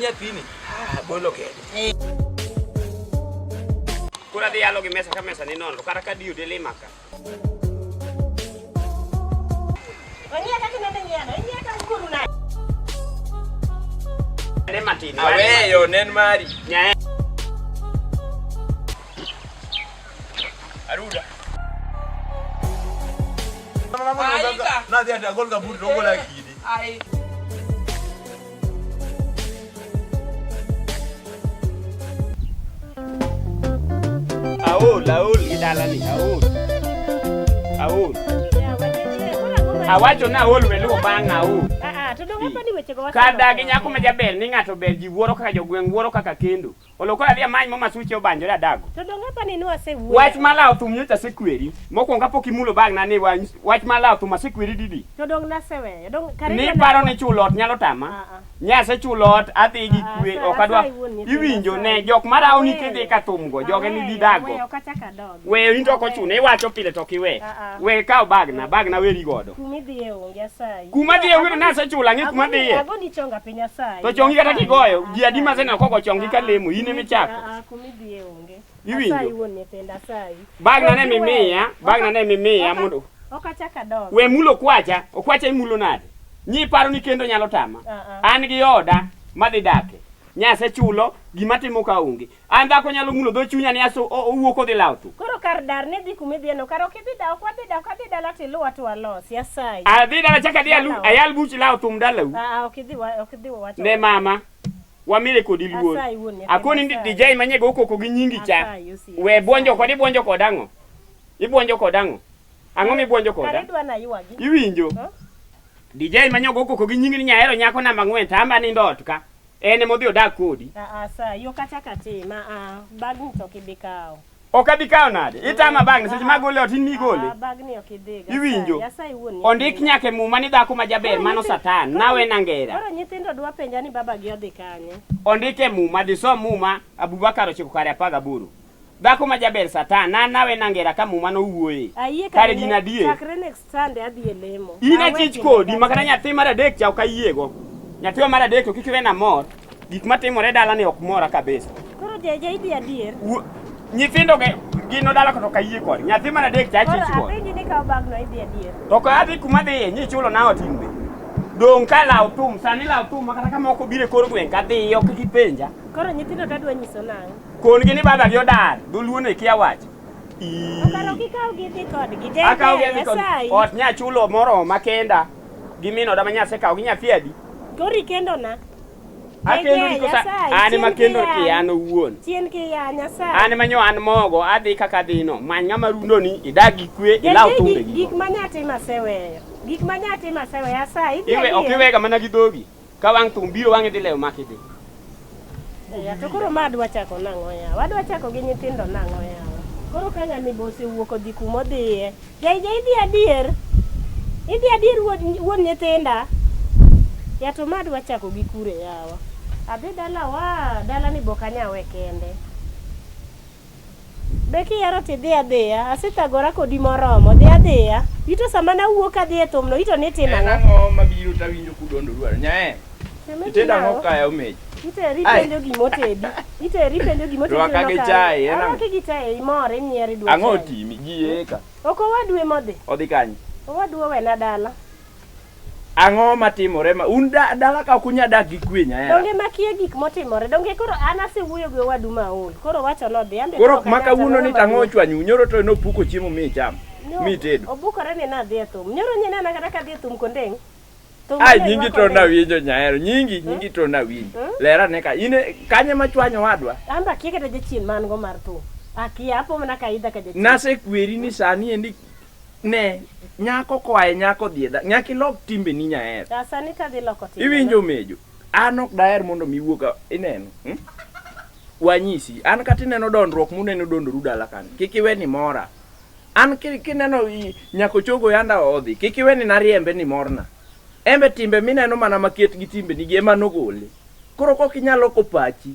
nyathini ah, bolo kende eh. koro adhi yalo gi mesa ka mesa ni nono kata ka diyo de lima ka aweyo nen mari Aruda. Na dia dia gol kaburi dongo la kidi. Ai. Aol, aol gidalani, aol. Aol. Awacho na aol weluo bang' aol. Ah ah, to dongo pa ni weche go. Kada gi nyako ma jaber ni ng'ato ber ji wuoro kaka jogweng' wuoro kaka kendo. Oloko adhi amany mo masuche obanjore adago. To donge apa ni nwasewuoyo? Wach ma lawo thum nyocha asekweri. Mokwongo kapok imulo bag na ni wa- wach ma lawo thum asekweri didi. To dong naseweyo. Dong kare Ni paro ni chulo ot nyalo tama. Ah, ah. Nyase chulo ot adhi gi Ah, kwe sa- ok adwa. sa iwuon nyithindo, Iwinjo sa ne iwuon. jok ma rawo ni Aweyo. kidhi ka thum go joge ni Aweyo, gidago. aweyo kachak adok. We in to ok ochuno, iwacho pile to ok iwe. Ah, ah. We kaw bagna, bagna weri godo. Kuma idhiye onge asayi. Kuma dhiye onge to nasechula ang'e kuma dhiye. Ago ni chonga piny asayi. To chongi kata kigoyo, ji adi maseneno koko chongi ka lemo, in ema ichako. Ah, ah kuma idhiye onge. Iwinjo? Asayi wuon nyithindo asayi. Bagna ne mimiya, bagna ne mimiya mondo. Ok achak adog. We mulo kwacha, okwacha imulo nade? Nyi paro ni kendo nyalo tama. Ah, ah. An gi oda madhi dake. Nyasechulo gima timo ka onge. An dhako nyalo mulo dho chunya ni aso owuok odhi lawo tu. Koro kar dar ni dhi kuma idhieno, kar ok idhi da ok wadhi da ok adhi dala to iluwa to walos. Yasayi. Adhi dala chaka adhi alu ayal buch lawo thum dalau. Ah, ok idhi wa- ok idhi wawacho. Ne mama. Wamile kodi luor. Asayi wuon nyathi, Akoni ndi asayi. dijai manyego okoko gi nyingi cha. Asayi, usi, We asayi. bwonjo kod ibwonjo kod ang'o? Ibwonjo kod ang'o? Ang'o mibwonjo Kare koda? idwa na ywagi. Iwinjo? Huh? Dijai manyego okoko gi nyingi ni nyahero nyako namba ng'wen to amba nindo ot ka. En emodhi odak kodi. Ah, ah, sa, yo kata kati, ma, ah, bag ni to kibi kao. Ok abi kawo nade? Itama bag ni seche ma gole ot in mi gole. Ah, bag ni ok idhi ga. Iwinjo? Nyasaye wuon ni. Ondik nyaka e muma ni dhako ma jaber Koro mano nyithi- satan, koro nawe nyi- na ngera. Koro nyithindo dwa penja ni baba gi odhi kanye. Ondik e muma, disom muma, Abubakar ochiko kare apar gaboro. Dhako ma jaber satan, na nawe na ngera ka muma nowuoye. Ayie Kare gin adier. Chakre next Sunday adhi e lemo. In Awe achich kinde kodi, makata kata- nyathi mar adek cha ok ayiego. Nyathi mar adek to kik iwe na mor. Gik matimore dala ni ok mora kabisa. Koro jaja idhi adier. Wu- Nyithindo ge gino dala koto ok ayie kodi. Nyathi mar adek cha Koro achich kodi. apenji ni kawo bagno idhi adier. To ka adhi kuma dhiye, nyi chulo na ot in be. Dong' ka law thum, sani law thum makata ka moko biro e kor gweng' kadhiyo kik ipenja. Koro nyithindo to adwa nyiso nang'o? Kongi ni baba gi odar, dholuo ne kia wacho. Okaro kikaw gi dhi kodgi. Jay Akaw gi Ber, adhi kod asayi. ot nya chulo moro makenda gi min oda ma nyase kaw gi nyathi adi. Kori kendo na. Akendo ni kosa an ma kendo ki an owuon. Chien ki ya nyasaye. An manyo an mogo adhi kaka dhino. Many ng'ama rundo ni idag gi kwe ilaw Jay, thumbe gik- gi. Gik ma nyatima aseweyo. Gik ma nyatima aseweyo asayi. idhi Iwe ok adier. iwega mana gi dhogi. Ka wang' thum biro wang'e dhi lewo maki dhi. Eya, to koro ma adwa chako nang'o yawa? Wadwa chako gi nyithindo nang'o yawa? Koro ka ng'ani be osewuok odhi kuma odhiye. Jaija idhi adier? Idhi adier wuod wuon nyithinda? Ya to ma adwa chako gi kure yawa? Adhi dalawa, dalani be ok anyawe kende. Be kihero to idhi adhiya. Asethagora kodi moromo. Dhi adhiya. Ito sama nawuok adhi e thumno, ito ni itimo En ang'o? ang'o mabiro tawinjo kudondo dwaro? Nyae, Sama itedo itimo ang'o ang'o? kaya omeji? Iteri Ai. penjo gima otedi. Iteri penjo gima otedi. Rwaka gi chai, en ang'o? Arwaki gi chai, imor, inyiero, idwa Ang'o chai. otimi? Gieka. Ok owadwe modhi. Odhi kanye? Owadwa owena dala. Ang'o matimore ma un da, dala ka ok unya dak gi kwe nyahera. Donge makie gik motimore. Donge koro an asewuoyo gi owadu maol. Koro wacho nodhi ambe Koro ma kawuono ni tang'o ochwanyu, nyoro to nopuko chiemo mi icham. No, Mi itedo. Obukore ni nadhi e thum. Nyoro nye nena kata kadhi e thum kondeng'. Thum Ai ne nyingi ywak to kondeng'. nawinjo nyahero, nyingi, nyingi to nawinjo. Hmm? Lera ne ka in e- kanye ma chwanyo wadwa? An be akia kata jachien ma an go mar thum. Akia, apo mana ka aidha ka jachien. Nasekweri ni sani endi Ne, nyako koa e nyako dhi e dhako. Nyaka ilok timbeni nyaer. Ah, sani ka dhi loko timbe. Iwinjo mejo. An ok daher mondo mi wuog ineno. Hmm? Wanyisi, an kata ineno dondruok muneno dondoru dala kan. Kik iwe ni mora. An kineno nyako chogo yanda odhi, kik iwe ni nariembe ni morna. Embe timbe mineno mana maket gi timbe nigi ema nogole. Koro kok inyalo ko pachi.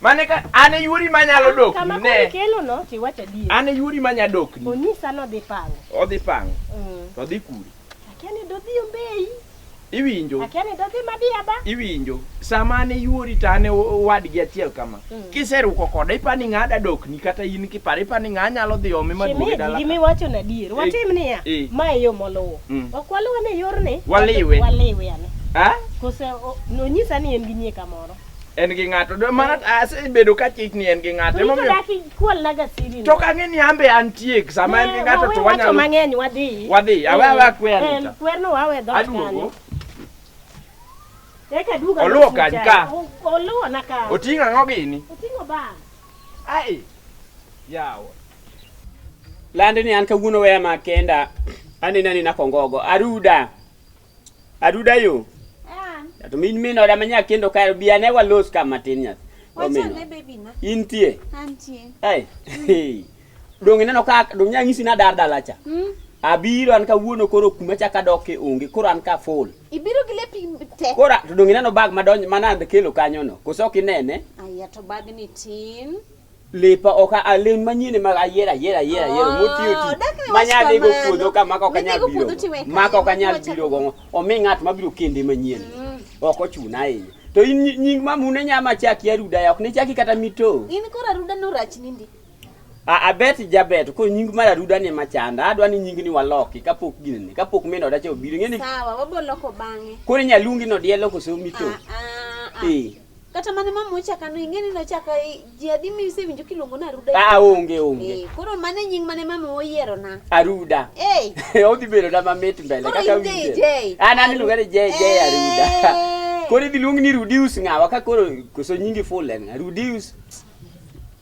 Mane ka an e yuri manyalo dok Kama koro ne. ikelo no to iwacho adier. An e yuri manya dok ni. Onyisa ni odhi pango. Odhi pango Mm. to odhi kuri. Akia ni dodhi Ombeyi. Iwinjo? Akia ni dodhi Madiaba. Iwinjo? Sama an e yuri to an e wadgi achiel kama. Mm. Kiseruko koda ipani ng'a da dok ni kata in kiparo ipani ng'a nyalo dhi ome maduoge Shemeji dala. gima iwacho na adier. Eh, Watim niya. eh. Ma e yo moluwo. Mm. Ok waluw ane yorni. Waliwe. Waliwe ane. Ah? Kose o- nonyisa ni en gi nyie kamoro. en gi ng'ato Do- mana asebedo ka chich ni en gi ng'ato To Emomiyo- idaki kwal na gasiri. to kang'e ni ambe antie sama en gi ng'ato to wanyalo mang'eny wadhi. Wadhi, awe awe akwer Eh, nita. Kwerno wawe dhoot aduogo kanyo. Eka duogo Oluwo alosu kany chai. ka. O- Oluwo na ka. oting'o ang'o gini Oting'o bag. ai yawa lande ni an kawuono weya makenda anena nina kongogo aruda Aduda yo. Ah. To min min oda manya kendo kayo bi ane walos ka matin nyathi. Wacha ne baby na. Intie. Antie. Ai. Dong ineno ka dong nya ngisi na dar dala cha. Hmm? Abiro an kawuono koro kuma cha ka doke onge koro an ka full. Ibiro gi lepi te. Koro to dong ineno bag madonj mana kelo kanyo no. Koso kinene. Aya to bag ni tin. lepa ok alen manyien ma ayier ayier ayier ayier oh, motiyo ti manyalo igo puodho ka maka ok anyal biro maka ok anyal biro go omi ng'at mabiro kende manyien mm. ok ochuna ahinya to in nying mamune nyama chaki aruda ya ok ne chaki kata mito in koro aruda no rach nindi a abet jabet ko nying mar aruda ni machanda adwa ni nying ni waloki kapok gini kapok meno odache obiro ngeni sawa waboloko bange koro nyaluongi no dielo koso mito ah, ah, ah. eh Kata mane mama ochaka no ing'e ni nochaka ji adi mi isewinjo kiluongo na Aruda. Ah onge onge. Eh, koro mane nying mane mama oyiero na. Aruda. Eh. Hey. Odhi bedo na mamit mbele kaka winje. Ah nani luonga ni Jay Jay eh. Aruda. Koro idhi luong ni Rudius ng'awa ka koro koso nyingi full en Rudius.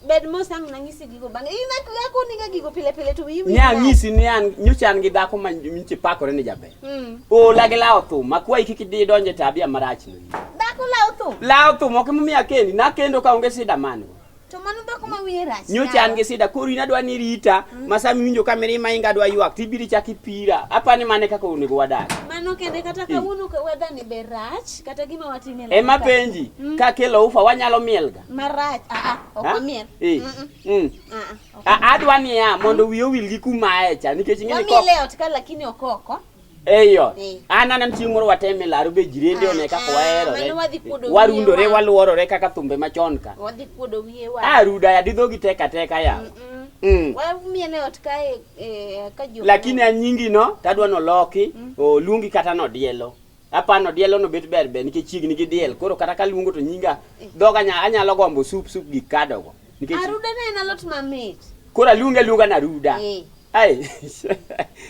Bed mos ang' nang'isi gigo bang'e. In ak- akoniga gigo pile pile to wiyi wil Nya nade? nyisi ni an nyocha an gi dhako ma nyocha pakore ni jaber. Mm. Ola gi lawo thum, akwayi kik idhi donje tabia marach no. Dhako lawo thum. Lawo thum ok emomiyo akendi, nakendo ka onge sida man go. To mano dhako ma wiye rach. Nyocha an gi sida koro in adwa ni rita, ma sama iwinjo ka mirima inga adwa ywak, tibiro ichak ipira. Apani mane kaka onego wadag. Mano kende kata kawuono ka weather ni be rach kata gima watime. Ema penji, ka kelo ufa wanyalo mielga. marach aa, ok Ha? omiel. Eh, Mm-mm. mm. Aa, ok A- adwa niya mondo wiye owil gi kumaye cha nikech ing'e ni ko Wamiel e ot ka lakini ok oko. eyo Eh. an aneno chieng' moro wateme laro be jirende one kaka Ah, waherore mano wadhi kuodo wiye warundore wa. waluorore kaka thumbe machon ka Wadhi kuodo wiye wa. a ruda ya didhogi teka teka yawa Mm-mm. mm. Wamiel e ot ka e- e- ka jo. lakini anyingi no tadwa noloki oluongi kata nodielo Apano dielo no bet ber ber nikech chiegni gi diel. Koro kata kaluongo to nyinga dhoga nya anyalo gombo sup sup gik kadogo. Nikech Aruda ne en alot mamit. koro aluonga aluonga na ruda. Eh. Ai.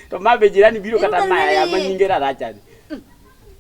to ma be jirani biro kata Iruda maya ya ma ruda. nyinge rarachani.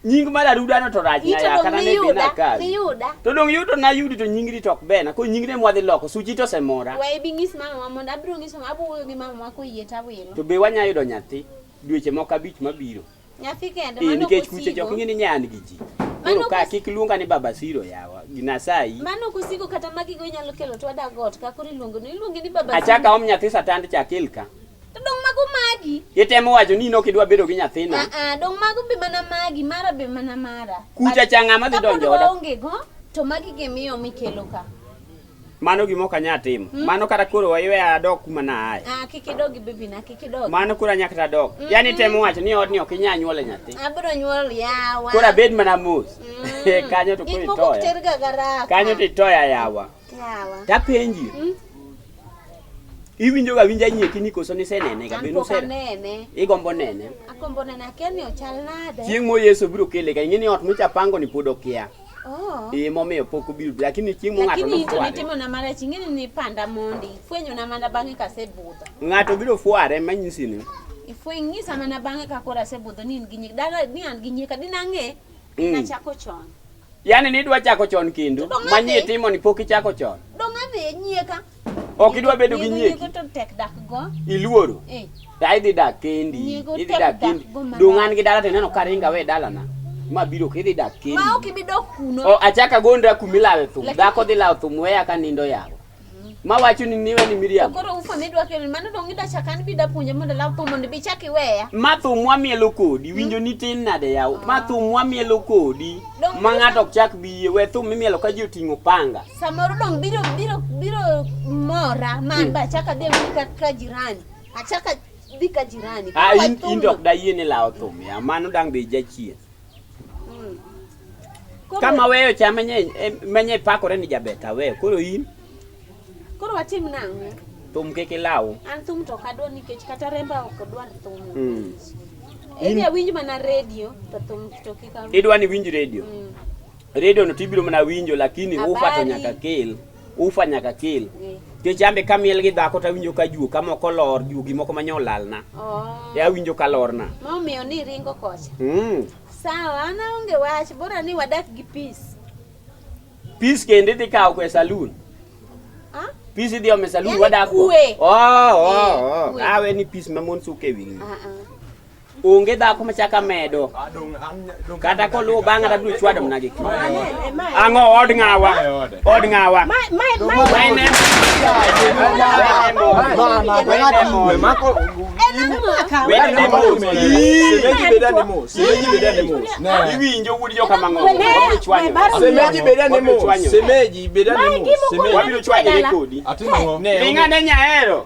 Nying mar aruda no to rach na Ito ya dong kata ne dina miyuda, kawi. miyuda. To dong yudo na yudi to nyingri to ok bena. Ko nyingre mwadhi loko suchi to semora. Wae bi ng'is mama wa mondo abiro ng'iso abiro wuoyo gi mama wa koyie tawilo. To be wanya yudo nyathi dweche moko abich mabiro. Nyathi kende eh, mano nikech kuche jok ing'e ni nyan gi ji. Koro ka kik luonga ni baba siro yawa ginasayi. Mano kusigo kata magi go inyalo kelo to ada got ka kuri luongo ni luongi ni baba siro. Achaka om nyathi satand chakil ka. To dong mago magi. Itemo wacho ni nok idwa bedo gi nyathina. Ah ah dong mago be mana magi mara be mana mara. Kucha changa ma dhi donjo oda. Onge go to magi gimiyo mikelo ka. Mano gima ok anyal timo. Mm. Mano kata koro wayweya adok kuma na aye. Ah, kik idog bibi na, kik idog. Mano koro anyaka ta dok. Mm. Yaani temo wacho ni odni ok inyal nyuole nyathi. Abiro nyuol yawa. Koro abed mana mos. Mm. Kanyo to koro itoya. Kanyo to itoya yawa. Yawa. Tapenji. Mm. Iwinjo ga winja nyeki ni koso ni senene ga beno sera. Nene. Igombo nene. Akombo nene akeni ochal nade. Chieng' mo Yesu biro kele ga ing'e ni ot micha pango ni pod okia. Oh. Eh, momiyo pok obiro lakini chieng' mo ng'ato lakini to nitimo na mara chieng' ni nipanda mondi fwenyo na mana bang'e ka sebudho ng'ato biro fware manyisi ni ifweny nyisa mana bang'e ka kora sebudho ni in gi nyik dala ni an gi nyika din ang'e mm. nachako chon yani nidwa chako chon kendo manyie timo ni pok ichako chon dong' adhi e nyieka Ok idwa bedo gi nyegi. Nyego to tek dak go. Iluoro. Eh. Ya idhi dak kendi. Nyego idhi dak kendi. Dong an gi dala to neno ka ringa we dala na. Ma biro ke idhi dak kendi. Ma ok ibi dok kuno. O achaka gondra kumi lawe thum. Dhako dhi lawe thum weya ka nindo yawo. Mm-hmm. Ma wacho ni niwe ni Miriam. Koro ufa mi dwa kelo mano dong ida chaka an bi da puonja mondo law thum mondo bi chaki weya. Ma thum wa mielo kodi mm. winjo ni tin nade yawo. Ma ah. thum wa mielo kodi. Ma ng'ato ok chak biye we thum mi mielo ka ji oting'o panga. Samoro dong biro biro biro mora man ba achaka dhi awuoyo ka, ka jirani. Achaka dhi ka jirani. Ka Ah, in, in wathumno. dok dayie ni lawo thum ya mano dang' be jachien Mm. Koro- kama weyo cha menye em- menye pakore ni jabet aweyo koro in Koro watim nang'o? thum kik ilaw An thum to ok adwar nikech kata remba ok odwar thum. Mm. Idhi awinj mana redio to thum to kik awinj. idwa ni winj redio Mm. Radio no tibiro mana winjo lakini ufa to nyaka kel. Ufa nyaka kel. Nikech ambe kamiel gi dhako to awinjo ka juok amoko lor juogi moko ma nyolalna. Oh. E awinjo ka lorna. Momiyo ni ringo kocha. Mm. Sawa, an aonge wach, bora ni wadak gi peace. Peace kende idhi kawo kwe saloon. Ah? Peace idhi ome saloon Yaani wadak. kwe. Oh, oh, Eh, oh. kwe. Awe ni peace ma mon suke wingi. Ah ah. onge dhako machaka medo kata koluwo bang'a tabiro chwado mna gi ang'o od ng'awa od ng'awa iwinjo wuod joka mang'osemeji bedane mos wabiro chwanyore kodi ringane nyaero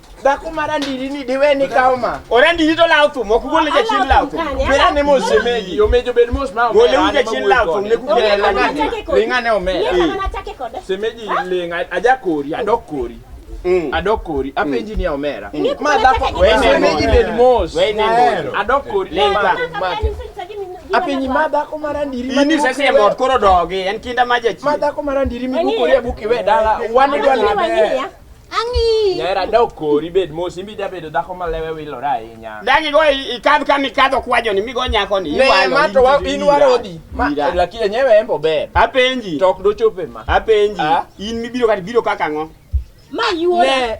Dhako mar andiri ni diwe ni kawo ma. Ora andiri to lawo thum, ok gol ja chien lawo thum. Bera ne mos semegi, omejo bed mos ma omera. Gole uja chien lawo thum, ne kukere la ngane. Linga ne omera. Semegi linga, aja kori, adok kori. Mm. Adok kori, apenji ni omera. Mm. Ma dhako, we semegi bed mos. We ne mos. Adok kori, linga. Apenyi ma dhako mar andiri. Ini sasa ya mot koro dogi, en kinda maja chi. Ma dhako mar andiri mi kukore buki we dala, wan idwa lebe. Ang'i. Nyera dok kori bed mos imbi jabedo dhako ma lewe wilore ahinya. Dagi go i- ikadh kama ikadho kwajoni migo nyakoni. Ne iwalo, ma to wa- iwiro, in warodi. Ma Ira. lakini nyewe embo ber. Apenji. To ok dochope ma. Apenji. Ah. In mibiro kati biro kaka ang'o? Ma yuola. Ne.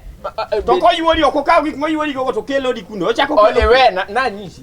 To koyuori ok okaw gik moyuori gogo to kelodi kuno. Ochako O kelodi. ewe na na nyisi.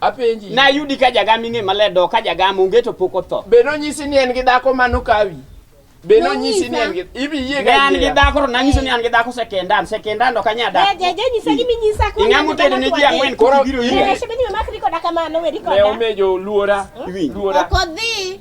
Apenji. Na yudi ka jagam ing'e maler do ka jagam onge to pok otho. Be nonyisi ni en gi dhako mano kawi? Be nonyisi ni en gi ibi yie ga. An gi dhako to nanyiso ni an gi dhako sekendan, sekendan ok anya dak. Je je nyisa gimi nyisa ko. Ing'a motede ne ji ang'wen koro biro yie. Ne shebe ni mamak riko dakamano we riko. Ne omejo luora. Luora. Okodhi.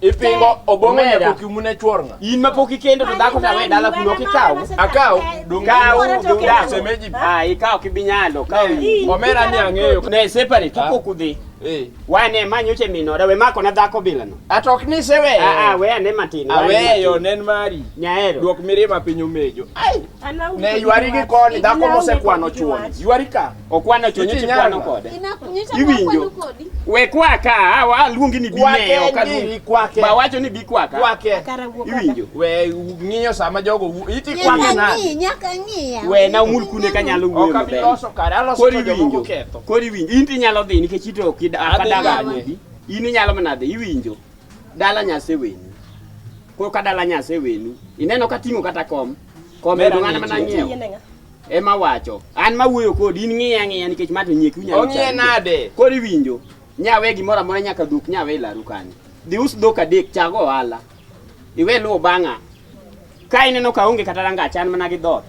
Ipingo obongo Omera. nyako kiumu ne chwor nga. In mapok ikendo to dhako tawe dala kuno kikaw. Akaw donge Kaw Ora to donge kendo. semeji. Ah, ikaw kibinyalo. Kaw. Ii. Omera ni ang'eyo. Ne separate to Ah. pok udhi. Eh. Wan e ma nyocha minore we mako na dhako bilano. Atok ni sewe. Ah ah we ane matin. we ane Aweyo matin. nen mari. Nyaero. Duok mirima piny omejo. Ai. Ana Ne ywari gi koni dhako mosekwano chwon. Ywari ka. Okwano chonyo Iti chikwano nyanga. kode. Inakunyisha Iwinjo. kwa kodi. We kwaka, awa aluongi ni Kwake bimeyo en kalu. giri, kwake. Ba wacho ni bikwaka. Kwake. Kara wuok oko. Iwinjo. We ng'iyo sama jogo wu- iti Nyaka kwake nade? ng'i, nyaka ng'iya. We na umul kune kanyalo wuoyo Ok abi maber. loso kare, aloso Kori to jomoko winjo. ketho. Kori winjo. In tinyalo dhi nikech ito ok ida- ok Adhi adaga dala. anyodi. In inyalo mana dhi iwinjo. Dala nyase wenu. Koro ka dala nyase wenu. Ineno ka ting'o kata kom. Kom Mera ero ng'ana ni mana ji. ng'iewo. Yienega. Ema wacho. An ma wuoyo kodi in ng'iya ng'iya nikech ma to nyie kunya. Ong'iye nade? Kodi winjo. Nyawe gimoro amora nyaka duk nyawe laru kanyo. Dhi us dhok adek chago ohala. Iwe luwo bang'a. Ka ineno ka onge kata ranga chan mana gi dot.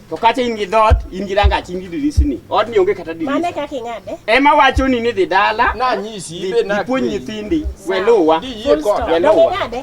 To kata in gi dot, in gi ranga chin gi dirisni. Od ni onge kata dirisni. Mane kaka ing'ade? Ema wacho ni ni dhi dala. Na nyisi ibe na. Ipuonj nyithindi. We luwa. Di yie kod. We luwa.